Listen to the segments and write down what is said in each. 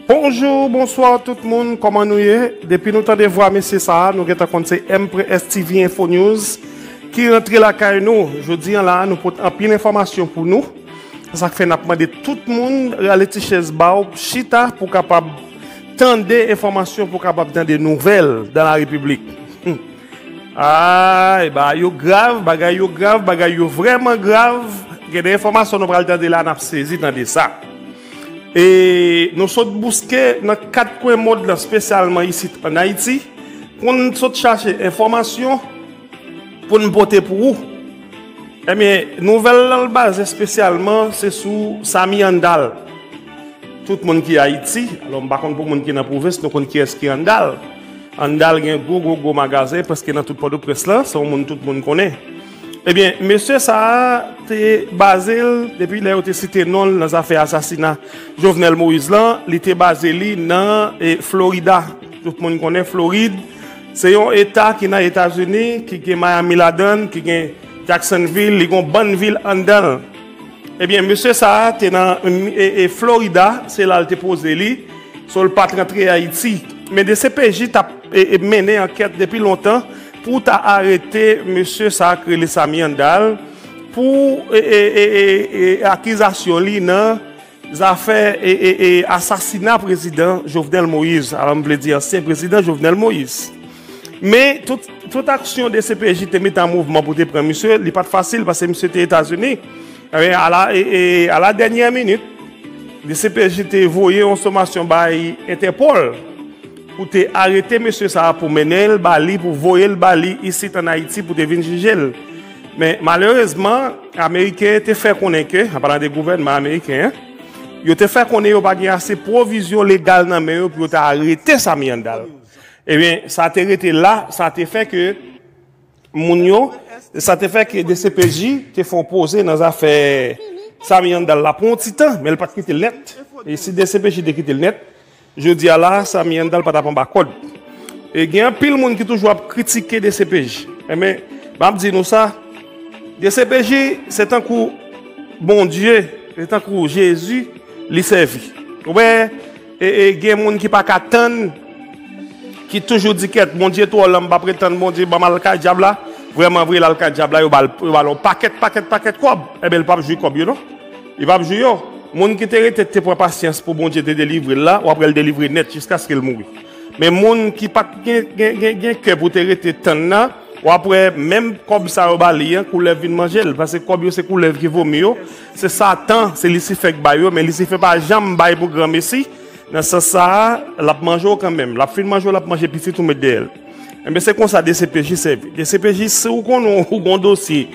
Bonjour, bonsoir tout moun, koman nou ye? Depi nou tande vwa mesye sa a, nou gen tan konn se MPRES TV Info News ki rantre lakay nou. Jodi an la a, nou pot anpil enfòmasyon pou nou. Se sa k fè n ap mande tout moun rale ti chèz ba w, chita pou w kapab tande enfòmasyon, pou w kapab tande nouvèl dans la République. A, e ba yo grav, bagay yo grav, bagay yo vrèman grav. Gen de enfòmasyon nou pral tande la a, n ap sezi tande sa. E nou sot bouske nan kat kwen mond lan spesyalman isit an Ayiti pou n sot chache enfòmasyon pou n pote pou ou. Ebyen nouvèl lan l baze spesyalman se sou Samy Handal. Tout moun ki Ayiti, alò m pa konn pou moun ki nan pwovens nou konn kiyès ki Handal. Handal gen gwo gwo gwo magazen prèske nan tout Pòtoprens lan, se yon moun tout moun konnen. Ebyen, mesye sa a te baze l, depi lè yo te site non l nan zafè asasina Jovenel Moïse lan, li te baze li nan Florida. Tout moun konnen Florid, se yon eta ki nan Etazini, ki gen Miami ladan l, ki gen Jacksonville, li gen yon bann vil anndan l. Ebyen, mesye sa a te nan Florida, se la l te poze li, so l pa t rantre Ayiti. Men dcpj t ap mennen ankèt depi lontan, Pou ta arete mesye sa k rele Samy Handal pou akizasyon li nan zafè asasina prezidan Jovenel Moïse, alò m vle di ansyen prezidan Jovenel Moïse. Men, tout aksyon dcpj te mete an mouvman pou te pran misye, li pa t fasil paske misye te Etazini. Ebyen, a la dènyè minit, dcpj te voye yon somasyon bay Entèpòl. Ou te arete mesye sa a pou mennen l ba li, pou voye l ba li isit ann Ayiti pou te vin jije l. Men, malerezman, Ameriken te fè konnen ke, an palan de gouvènman ameriken an, yo te fè konnen yo pa gen ase pwovizyon legal nan men yo pou yo ta arete Samy Handal. Ebyen, sa te rete la, sa te fè ke. moun yo, sa te fè ke dcpj te fè yon poze nan zafè Samy Handal la pou yon ti tan, men li pa te kite l nèt. E si dcpj te kite l nèt, jodi a la, Samy Handal pa t ap anba kòd. E gen anpil moun ki toujou ap kritike dcpj. E men, m ap di nou sa, dcpj se tankou Bondye, se tankou Jezi li sèvi. Ou wè? E gen moun ki pa ka tann ki toujou di kèt Bondye twò lan m pa pre tann Bondye ban m al kay dyab la vrèman vre l al kay dyab la yo ba l yon pakèt pakèt pakèt kòb enben l pap jwi kòb yo non li pap jwi yo moun ki te rete te pran pasyans pou Bondye te delivre l la w ap wè l delivre nèt jiskaske l mouri men moun ki pat gen gen gen kè pou te rete tann nan w ap wè menm kòb sa yo ba li an koulèv vin manje l paske kòb yo se koulèv ki vomi yo. Se satan, se lisifè k bay yo, men lisifè pa janm bay pou gran mesi, nan sans sa a, l ap manje w kanmenm, l ap fin manje w l ap manje pitit ou met dèyè l. Enben se konsa dcpj sèvi. Dcpj si w konnen w gen yon dosye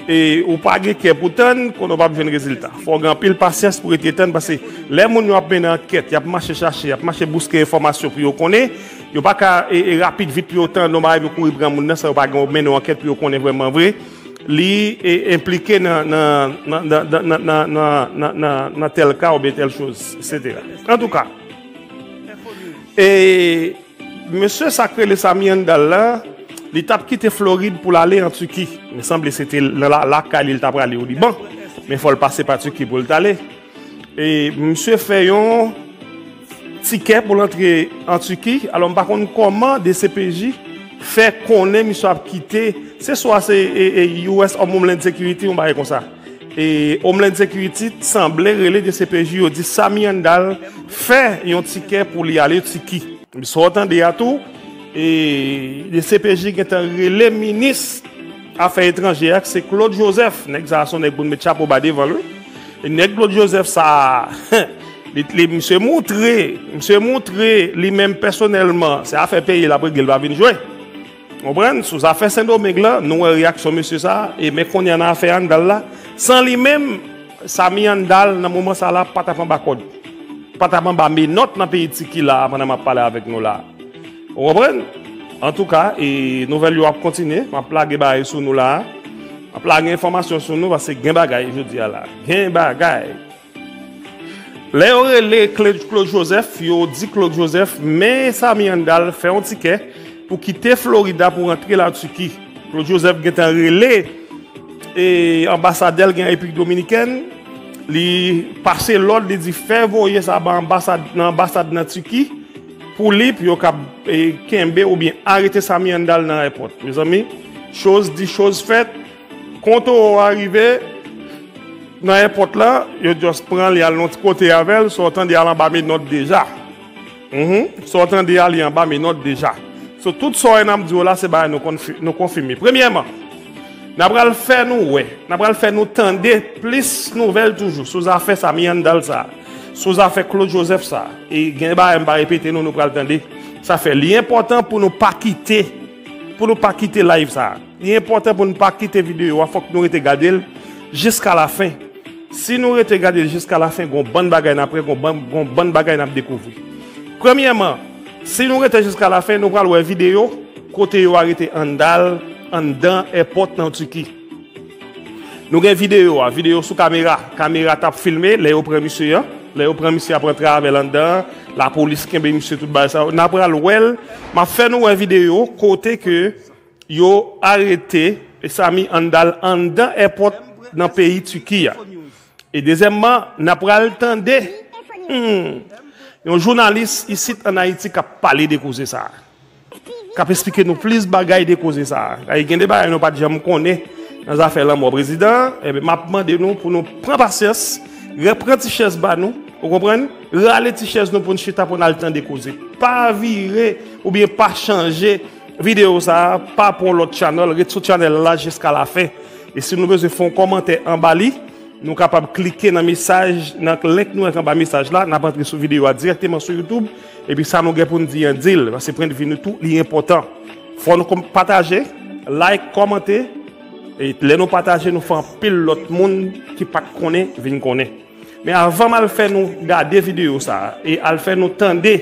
e w pa gen kè pou tann, konnen w p ap jwenn rezilta. Fò w gen anpil pasyans pou rete tann pase lè moun yo ap mennen ankèt, y ap mache chache, y ap mache bouske enfòmasyon pou yo konnen, yo pa ka rapid vit pou yo tann yon bagay pou yo kouri pran moun nan san yo pa gen yon mennen yon ankèt pou yo konnen vrèman vre. Li enplike nan tèl ka oubyen tèl choz, eksetera. Antouka, e mesye sa k rele Samy Handal la, li t ap kite Florid pou l ale an Tiki. Men sanble se te lakay li l t aprale o Liban. Men fò l pase pa Tiki pou l t ale. E misye fè yon. Tikè pou l antre an Tiki, alò m pa konn kòman dcpj fè konnen misye ap kite, se swa se US Homeland Security yon bagay konsa. Homeland Security t sanble rele dcpj yo di Samy Handal fè yon tikè pou li ale Tiki. Sa w tande a tou, dcpj gentan rele minis afè etranje a k se Claude Joseph, nèg sa a s on nèg pou n met chapo ba devan l wi. Nèg Claude Joseph sa a, li misye moutre, misye moutre li menm pèsonèlman, se afè peyi l ap regle l pa vin jwe. Ou konprann? Sou zafè Sendomeng lan, nou wè reyaksyon mesye sa a, e men kounye a nan afè Handal la, san li menm, Samy Handal nan moman sa a la pa t ap anba kòd, pa t ap anba menòt nan peyi Tiki la a pandan m ap pale avèk nou la a. Ou konprann? Antouka, e nouvèl yo ap kontinye. M ap lage bagay sou nou la a. M ap lage enfòmasyon sou nou paske gen bagay jodi a la. Gen bagay! Lè yo rele Claude Joseph, yo di Claude Joseph, men Samy Handal fè yon tikè pou kite Florida pou rantre la Turquie. Claude Joseph gen tan rele e anbasadè l gen an Repiblik Dominikèn, li pase lòd, li di fè voye sa ba anbasad nan anbasad nan Turquie. Poulip yo kap kenbe oubyen arete Samy Handal nan airport mezanmi choz di choz fèt kon toro a rive nan airport la yo just pranl yal yon ti kote avèl sa w tande a l anba menòt deja humm sa w tande a li anba menòt deja so tout sa w wè nap di w la se bagay nou konfime premyèman na pral fè nou wè na pral fè nou tande plis nouvèl toujou sou zafè Samy Handal sa. Sou zafè Claude Joseph sa, e gen bagay m pa repete nou, nou pral tande, sa fè li enpòtan pou nou pa kite, pou nou pa kite live sa. Li enpòtan pou nou pa kite videyo a, fòk nou rete gade l jiska lafen. Si nou rete gade l jiska lafen, gon bann bagay n ap wè, gon bann bagay n ap dekouvri. Premyèman, si nou rete jiska lafen, nou pral wè videyo kote yo arete Handal anndan èpòt nan Tiki. Nou gen video a, video sou kamera, kamera tap filme lè yo pran misye an, lè yo pran misye ap rantre avèl anndan, la polis kenbe misye tout bagay sa yo, na pral wèl, map fè nou wè video kote ke yo arete Samy Handal anndan èpòt nan peyi Tiki a. E dezyèmman, na pral tande yon jounalis isit an Ayiti kap pale de koze sa a. K ap esplike nou plis bagay de koze sa a. Daye gen de bagay nou pa t janm konnen nan zafè lanmò prezidan an. Enben, m ap mande nou pou nou pran pasyans, repran ti chèz ba nou, ou konprann, rale ti chèz nou pou n chita pou n al tande koze. Pa vire oubyen pa chanje videyo sa a, pa pran yon lòt channel, ret sou channel la jiska lafen. E si nou bezwen fè yon kòmantè anba li, nou kapab klike nan mesaj, nan link nou mete anba mesaj la, n ap antre sou videyo a dirèkteman sou YouTube. Epi sa nou gen pou n di an di l, paske pwendvi nou tou li enpòtan. Fò nou konm pataje, like, kòmante, e lè nou pataje nou fè anpil lòt moun ki pat konnen vin konnen. Men avan m al fè nou gade videyo sa a e al fè nou tande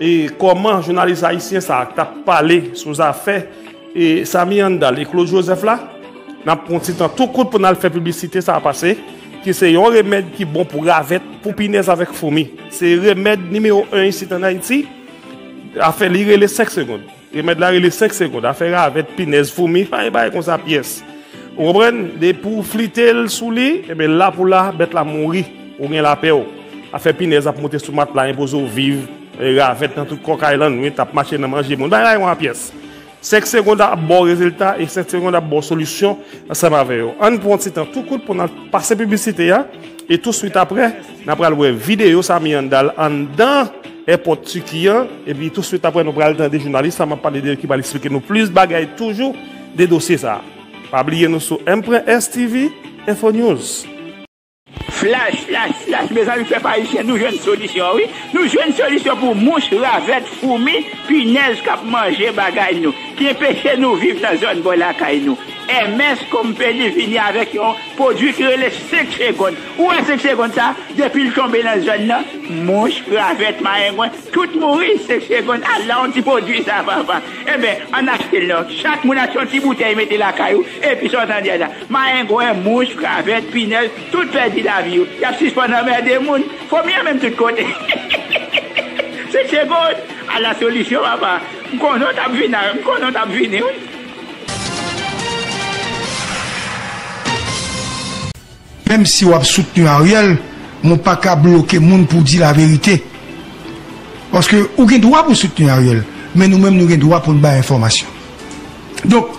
e kòman jounalis ayisyen sa a k t ap pale sou zafè E Samy Handal e Claude Joseph la, n ap pran yon ti tan tou kout pou n al fè piblisite sa a pase, ki se yon remèd ki bon pou ravèt, pou pinèz avèk foumi. Se remèd nimewo 1 isit an Ayiti. Afè li rele 5 segond. Remèd la rele 5 segond. Afè ravèt, pinèz, foumi, pa gen bagay konsa pyès. Ou konprann? Depi w flite l sou li, enben la pou la, bèt la mouri. Ou gen lapè w. Afè pinèz ap monte sou matla, enpoze w viv. Ravèt nan tout kòkay lan wi tap mache nan manje moun bay raymond pyès 5 segond ap baw rezilta e 5 segond ap baw solisyon ansanm avè yo ann pran yon ti tan tou kout pou nan pase piblisite ya e tou swit aprè nan pral wè videyo sa miyandal anndan èpòt tiki an epi tou swit aprè nou pral tande jounalis la map pale de ki pral esplike nou plis bagay toujou de dosye sa pa bliye nou sou mpranstv info news. Flash! Flash! Flash! Mezanmi pèp ayisyen nou jwenn solisyon wi, nou jwenn solisyon pou mouch, ravèt, foumi, pinèz kap manje bagay nou, ki enpeche nou viv nan zòn bò lakay nou. MS Company vini avèk yon pwodwi ki rele 5 segond. Ou wè 5 segond sa, depil tonbe nan zòn nan, mouch, ravèt, mayengwen, tout mouri 5 segond. Ala yon ti pwodwi sa papa! Enben, ann achtel non. Chak moun achte yon ti boutèy mete lakay ou, Epi sa w tande a la. Mayengwen, mouch, kravèt, pinèd, tout pèdi lavi yo. Y ap sispann anmède moun. Fomi an menm tout kote. Se Segond! Ala solisyon papa! M konnen w t ap vin a, m konnen w t ap vini wi. Menm si wap soutni Ariel men ou paka bloke moun pou di la verite paske ou gen dwa pou soutni Ariel men nou menm nou gen dwa poun bay enfòmasyon donk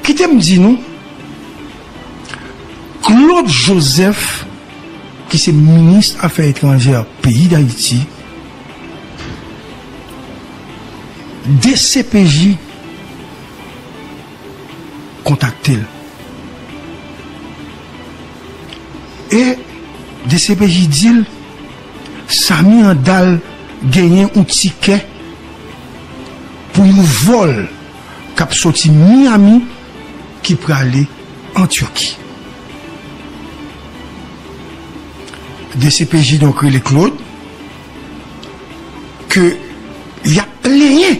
kitem di nou Claude Joseph ki se minis afè etranjè peyi dayiti dcpj kontakte l. E dcpj di l Samy Handal genyen yon tikè pou yon vòl k ap soti Miami ki prale an Turki. Dcpj donk rele Claude ke y ap plenyen.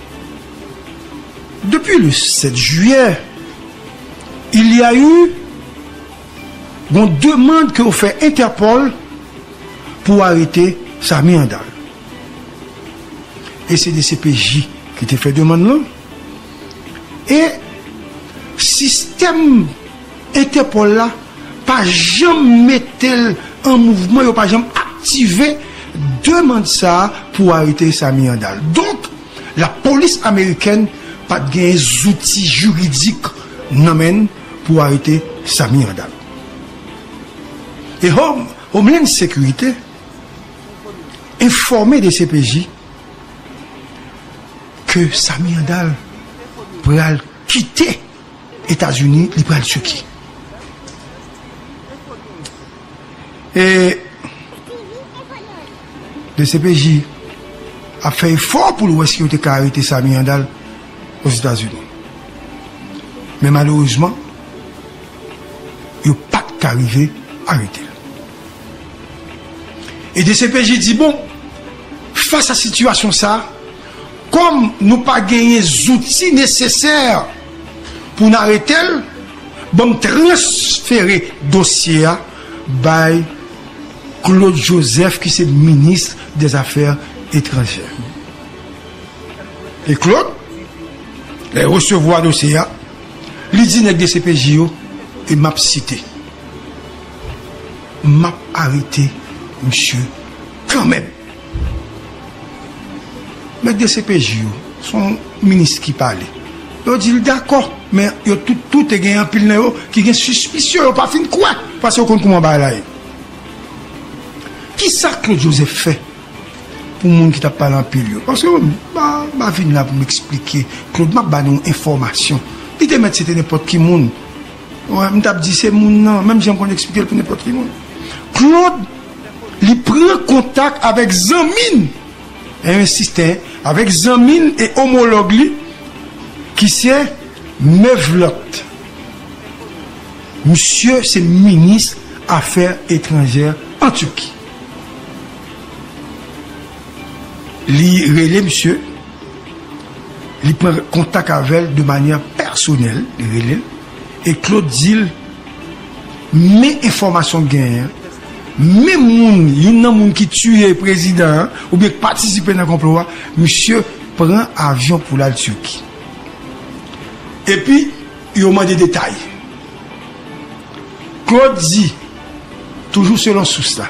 Depi le 7 jiyè, il y a eu yon demand ke yo fè Interpol pou arete Samy Handal. E se dcpj ki te fè demand lan. E sistèm. Interpol la pa janm mete l an mouvman, yo pa janm aktive demand sa a pou arete Samy Handal. Donk, lapolis amerikèn pa t genyen zouti jiridik nan men n pou arete Samy Handal. E Home, Homeland Security, enfòme dcpj ke Samy Handal pral kite. etazini li pral tuki e dcpj ap fè efò poul wè si yo te ka arete samy handal ozetazini men malerezman yo pat ka rive aretel e dcpj di bon fas a sitiyasyon sa. Kòm nou pa genyen zouti nesesè pou n arete l, ban m transfere dosye a bay Claude Joseph ki se minis dèzafè etranjè. E Claude, lè l resevwa dosye a, li di nèg dcpj yo, e m ap site, M ap arete misye kanmenm. Mèt dcpj yo, se yon minis ki pale. Yo di l dakò, men yo tout tou te gen anpil nan yo ki gen sispisyon, yo pa fin kwè, pase yo konn kouman bagay la ye. Kisa Claude Joseph fè pou moun ki t ap pale anpil yo? Pase yo, m pa vin la pou m eksplike, Claude m ap ba nou yon enfòmasyon. Li te mèt se te nenpòt ki moun. Wè m tap di se moun nan menm jan m konn eksplike l pou nenpòt ki moun Claude li pran kontak avèk zanmi n e ensiste avèk zanmi n e omològ li ki se Mevlot misye se minis afè etranjè an Turquie. Li rele misye, li pran kontak avè l de manyè pèsonèl, li rele l, e Claude di l, men enfòmasyon m genyen an, men moun, youn nan moun ki tiye prezidan an, oubyen k patisipe nan konplo a, misye pran avyon pou l al Turquie. Epi, yo mande detay. Claude di, toujou selon sous la.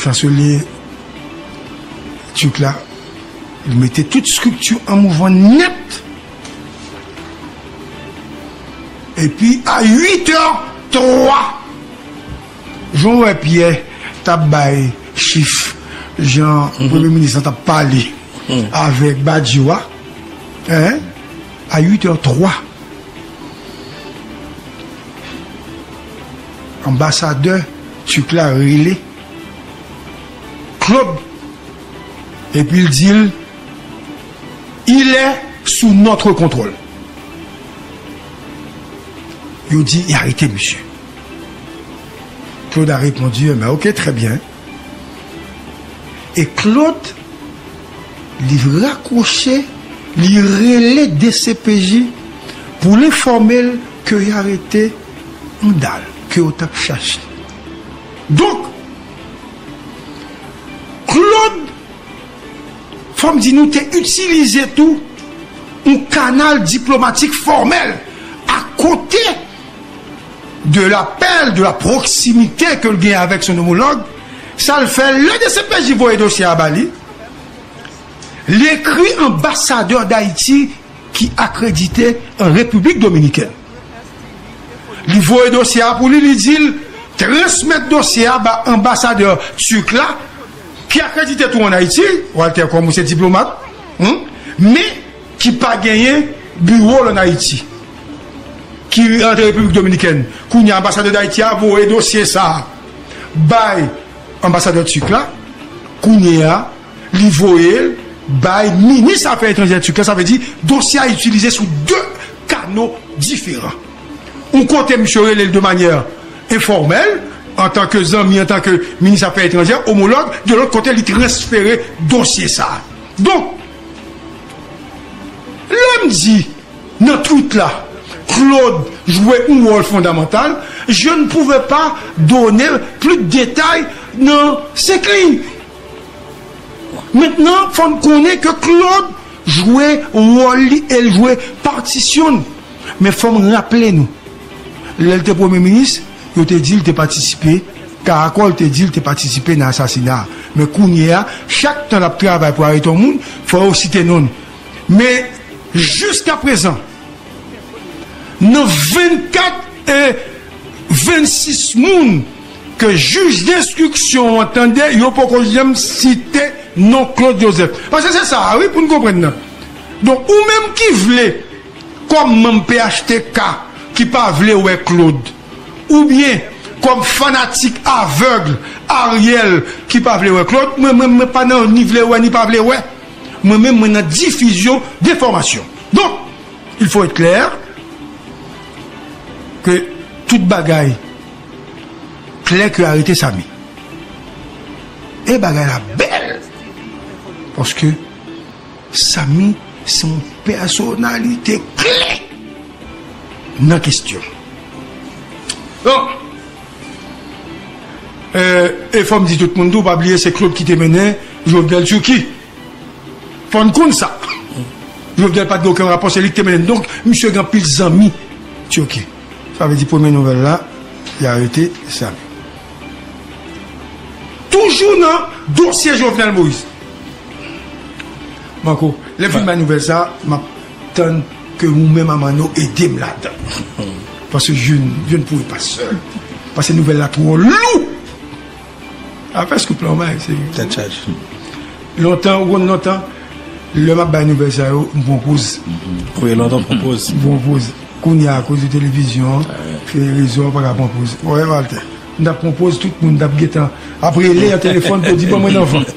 Chanselier Turc la li mete tout strikti an mouvman nèt. Epi a 8 è 3 Jan wè Pyè tap bay chif jan premye minis lan tap pale avèk Badio a a 8 è 3. Anbasadè Turk la rele Claude epi l di l, Il est sous notre contrôle. Yo di, Arete misye. Claude a repondu, Enben, ok, trè byen. E Claude li rakwoche, li rele dcpj pou l enfòme l ke y arete Andal ke yo t ap chache. Donk, Claude, fò m di nou te itilize tou yon kanal diplomatik fòmèl akote. de lapèl, de la pwoksimite ke l gen avèk son omològ, sa l fè lè dcpj voye dosye a ba li, li ekri anbasadè Dayiti ki akredite an Repiblik Dominikèn. Li voye dosye a pou li, li di l transmèt dosye a ba anbasadè Turk la ki akredite tou an Ayiti, Walter Kòm ou se diplomat, men. ki pa genyen biwo l an Ayiti, ki rantre Repiblik Dominikèn. Kounye a, anbasadè Dayiti a voye dosye sa a bay anbasadè turk la. Kounye a, li voye l bay minis afè etranjè turk la. Sa vle di, dosye a itilize sou de kano diferan. Yon kote, misye rele l de manyè enfòmèl, antanke zanmi, antanke minis afè etranjè, omològ. Yon lòt kote, li transfere dosye sa a. Donk. Lè m di nan tweet la Claude jwe yon wòl fondamantal, je ne pouvais pas donner plus de détails nan 5 liy. Mentnan fò n konnen ke Claude jwe wòl li e l jwe patisyon l. Men fò m raple nou. Lè l te premye minis, yo te di l te patisipe, Caracol te di l te patisipe nan asasina a. Men kounye a, chak tan l ap travay pou arete yon moun, fò yo site non l. Men, jiskaprezan, nan 24 e 26 moun ke jij denstriksyon an tande, yo poko janm site non Claude Joseph. Pase se sa a wi pou n konprann nan. Donk, ou menm ki vle. Kòm manm phtk ki pa vle wè Claude oubyen kòm fanatik avèg Ariel ki pa vle wè Claude, mwen menm mwen pa nan ni vle wè ni pa vle wè. Mwen menm mwen nan difizyon denfòmasyon. Donk, il faut être clair ke tout bagay klè ke arete Samy e bagay la bèl paske Samy se yon pèsonalite kle nan kesyon lan. E fò m di tout moun tou pa bliye se Claude ki te mennen Jovenel Turquie. Fò n konn sa. Jovenel pa t gen okenn rapò se li ki te mennen l. Donk misye gen anpil zanmi Turquie. Sa vle di premye nouvèl la, yo arete Samy. Toujou nan dosye Jovenel Moïse. Manko, lè m fin bay nouvèl sa, m ap tann ke ou menm a Manno ede m ladan. Paske je ne pouvais pas seul. Paske nouvèl la twò lou. Afè Scoop la, w bay se. Tèt chaje. Lontan, ou konn lontan? Lè map bay nouvèl sa yo m pran poz. Wi lontan w pran poz. M pran poz. Kounya akoz de televizyon an, rezo an m paka pran poz. Wè Walter, m tap pran poz tout moun tap gentan ap rele nan telefòn pou yo di ban mwen nan vant.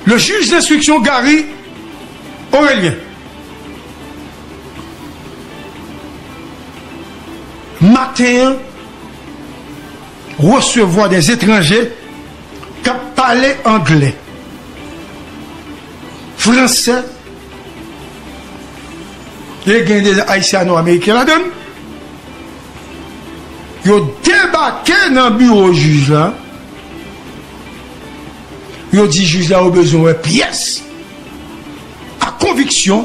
Le juge d'instruction Garry Orelien maten an. resevwa des etranje k ap pale angle, franse e gen de ayisyano ameriken ladan l, yo debake nan biwo jij la, yo di jij la yo bezwen wè pyès ak konviksyon.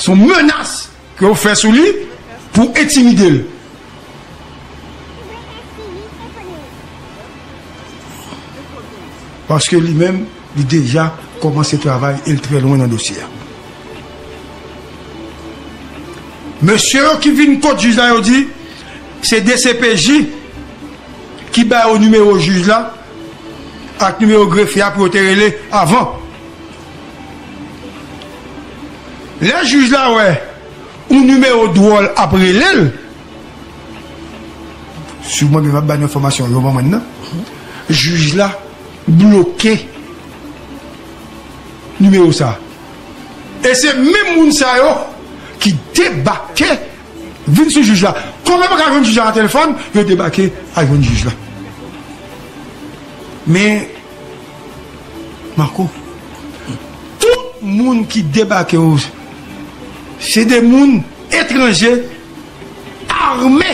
Son menas ke yo fè sou li pou entimide l. Paske li menm li deja komanse travay e l trè lwen nan dosye a. Mesye yo ki vin kot jij la yo di se dcpj ki ba yo nimewo jij la ak nimewo grefye a pou yo te rele avan. Lè jij la wè yon nimewo dwòl ap rele l, si w mwen menm ap ba nou enfòmasyon yo manman nan, jij la bloke nimewo sa. E se menm moun sa yo ki debake vin sou jij la. Kòm yo pa ka jwenn jij la nan telefòn, yo debake al jwenn jij la. Men. Marco tout moun ki debake yo se de moun etranje arme.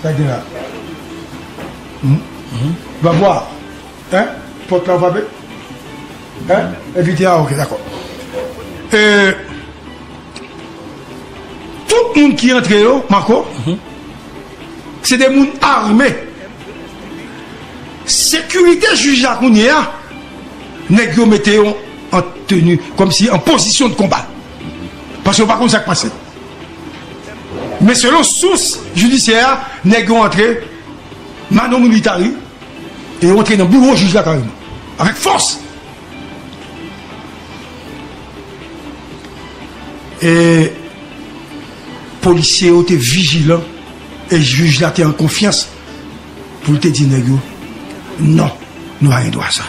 Sa gen la Bwa bwa hein pot la ou frape hein envite a ok dakò euh tout moun ki antre yo Marco. Se de moun arme. Sekirite jij la kounye a, nèg yo mete yo an teni, kòm si an pozisyon de konba. Paske yo pa konn sa k pase. Men selon sous jidisyè a, nèg yo antre mano militari e yo antre nan biwo jij la kareman. Avèk fòs. E polisye yo te vijilan e jij la te an konfyans pou l te di nèg yo, non, nou pa gen dwa sa.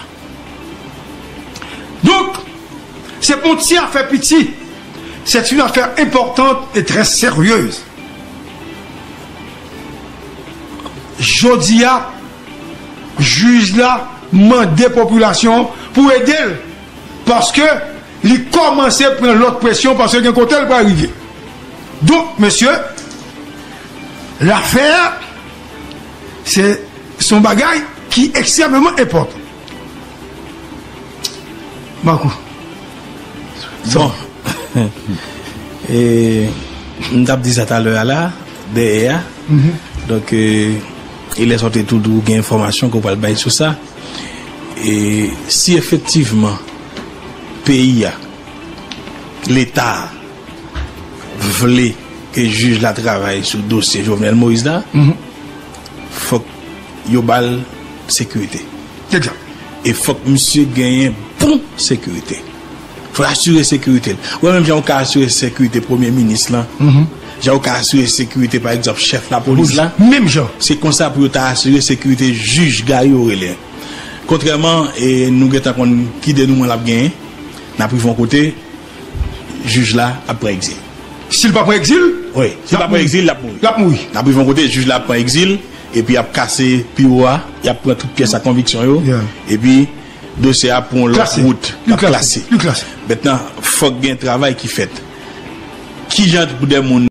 Donk, se pa yon ti afè piti, c'est une affaire importante et très sérieuse. Jodi a, jij la mande popilasyon an pou ede l paske li kòmanse pran lòt presyon paske gen kote l pral rive donk mesye lafè a se son bagay ki ekstrèmeman enpòtan Marco bon e m t ap di sa talè a la dèyè a donk e lè sa w te tou di w gen enfòmasyon ke w pral bay sou sa E si efektivman peyi a, leta a vle ke jij la travay sou dosye Jovenel Moïse la, fòk yo ba l sekirite. E fòk misye genyen bon sekirite. Fòl asire sekirite l. Wè menm jan ou ka asire sekirite premye minis lan, jan ou ka asire sekirite pa egzanp chèf lapolis la, se konsa pou yo ta asire sekirite jij Gary yo rele an. Kontrèman e nou gentan konn ki denouman l ap genyen, n ap rive yon kote, jij la ap pran egzil. Si l pa pran egzil? Wi, si l pa pran egzil, l ap mouri. L ap mouri. N ap rive yon kote, jij la ap pran egzil, epi y ap kase biwo a, y ap pran tout pyès ak konviksyon yo, epi. Dosye a pou yon lòt wout l ap klase. Mentnan fòk gen travay ki fèt. Kijan pou de moun.